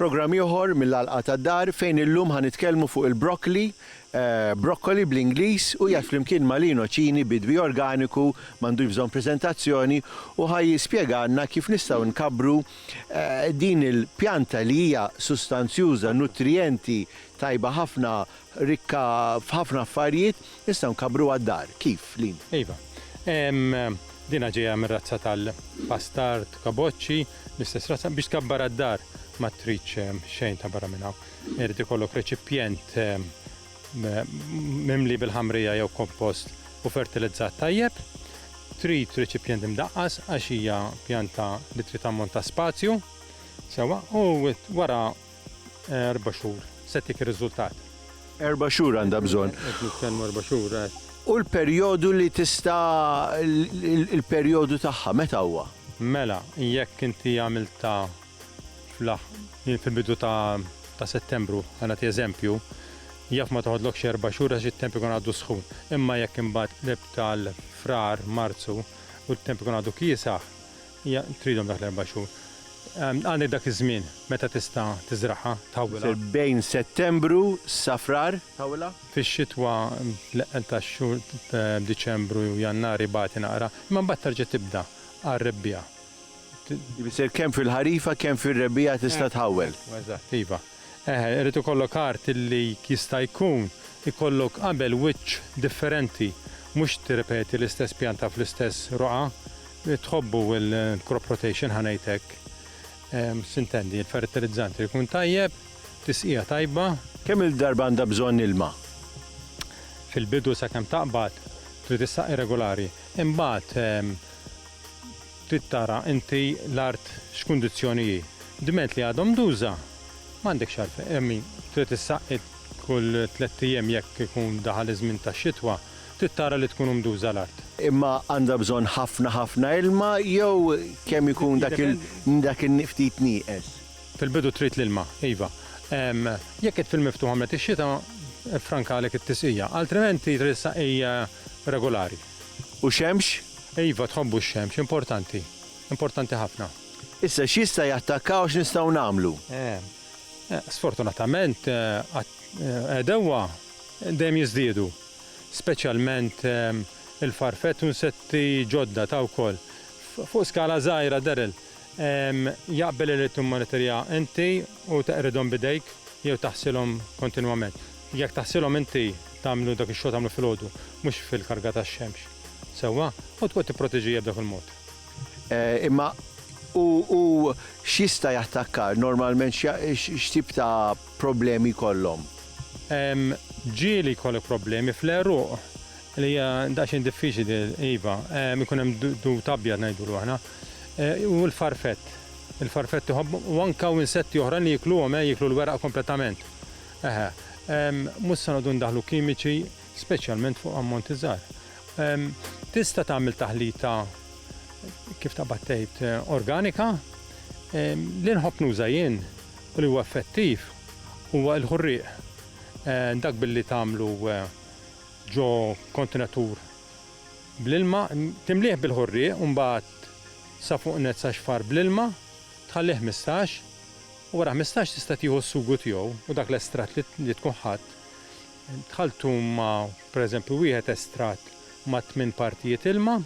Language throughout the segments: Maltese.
Programm ieħor mill-Għalqa tad-Dar fejn illum ħa nitkellmu fuq il-broccoli, broccoli bl-Ingliż u jgħid flimkien ma' Lino Cini bidwi organiku m'għandux bżonn preżentazzjoni u ħa jispjegalna kif nistgħu nkabru Din il-pjanta li hija sustanzjuża, nutrijenti, tajba ħafna, rikka f'ħafna affarijiet, nistgħu nkabbruha d-dar. Kif, Lin? Iva. Dinha ġejja mir-razza tal-bastard, kaboċċi, l-istess razza. Biex tkabbarha d-dar ma tridx xejn ta' barra minn hawn. Irid ikollok reċipjent mimli bil-ħamrija jew kompost u fertilizzat tajjeb. Trid reċipjent imdaqqas għax hija pjanta li trid ammont ta' spazju sewwa u wara eh, erba' xhur se tik ir-riżultat. Erba' xhur għandha bżonn. Erba' xhur. Eh. U l-perjodu li tista' il-perjodu tagħha meta huwa? Mela, jekk inti għamilta fl-aħħ, jien fil-bidu ta' ta' Settembru, ħa nagħti eżempju, jaf ma toħodlokx erba' xhur għax it-temp ikun għadu sħun. Imma jekk imbagħad qlibt għal Frar, Marzu u t-temp ikun għadu kiesaħ, ja tridhom dak l-erba' xhur. Għandek dak iż-żmien meta tista' tiżragħha, tħawwilha. Bejn Settembru sa Frar, tħawwilha? Fix-xitwa l-eqqel tax-xhur Diċembru, Jannar ibati naqra, imma mbagħad terġa' tibda għar-Rebbiegħa. Tfisser kemm fil-ħarifa kemm fir-rebbiegħa tista' tħawwel. Eżatt, iva. Eħe, irid ikollok art illi jista' jkun ikollok qabel wiċċ differenti, mhux tirrepeti l-istess pjanta fl-istess roqgħa. Tħobbu l-crop rotation ħa ngħid hekk. S'intendi, il-fertilizzant irid ikun tajjeb, tisqija tajba. Kemm-il darba għandha bżonn ilma? Fil-bidu sakemm taqbad trid issaqi regulari. Imbagħad, Trid tara inti l-art x'kundizzjoni hi. Dment li għadhom nduża, m'għandekx għalfejn, I mean, trid issaqqi kull tlett ijiem jekk ikun daħal iż-żmien tax-xitwa, trid tara li tkun mduża l-art. Imma għandha bżonn ħafna ħafna ilma jew kemm ikun dak il, dak il-ftit nieqes? Fil-bidu trid l-ilma, iva. Jekk qed fil-miftuħ għamlet ix-xita, iffrankalek it-tisqija. Altrimenti trid issaqqi regolari. U xemx? Iva, tħobbu x-xemx, importanti. Importanti ħafna. Issa x'jista' jattakka u x'nistgħu nagħmlu? Sfortunatament, għedewwa dejjem jiżdiedu, speċjalment il-farfett u nsetti ġodda ta' wkoll. Fuq skala żgħira, Daryl, jaqbel li tmonitorja inti u teqridhom b'idejk jew taħsilhom kontinwament. Jekk taħsilhom inti tagħmlu dak ix-xogħol tagħmlu filgħodu, mhux fil-karga tax-xemx. Sewwa? U tqgħod tipproteġijha b'dak il-mod. Imma u u x'jista' jattakkar? Normalment x'tip ta' problemi jkollhom? Ġieli jkollok problemi fl-għeruq li hija daqsxejn diffiċli li iva, ikun hemm dud abjad ngħidulu aħna. U l-farfett. Il-farfett iħobb u anke hawn insetti oħrajn li jikluhom, jieklu l-weraq kompletament. Eħe, mhux se noqogħdu ndaħħlu kimiċi, speċjalment fuq ammonti żgħar. Tista' tagħmel taħlita kif taqbad tgħid organika. Li nħobb nuża jien u li huwa effettiv huwa l-ħurrieq. Dak billi tagħmlu ġo kontenatur bl-ilma, timlih bil-ħurrieq u mbagħad sa fuq net sa xfar bl-ilma, tħallih 15 Wara ħmistax tista' tieħu s-sugu tiegħu u dak l-estratt li tkun ħadt, tħalltu ma' pereżempju wieħed estratt ma' tmien partijiet ilma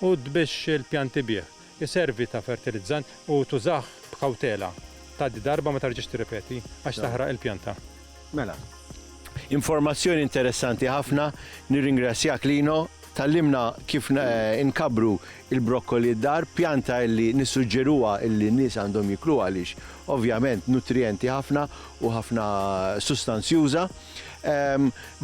u tbix il-pjanti bih. Iservi ta' fertilizzant u tużah b'kawtela. Tgħaddi darba ma terġax tirripeti għax taħraq il-pjanta. Mela. Informazzjoni interessanti ħafna, nirringrazzjak Lino, tgħallimna kif inkabbru il-brokkoli d-dar, pjanta illi nissuġġeruha illi n-nies għandhom jikluha għaliex ovvjament nutrijenti ħafna u ħafna sustanzjuża.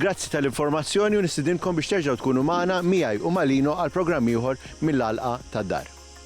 Grazzi tal-informazzjoni u nistidinkom biex terġgħu tkunu magħna, miegħi u ma' Lino għal programm ieħor mill-għalqa tad-dar.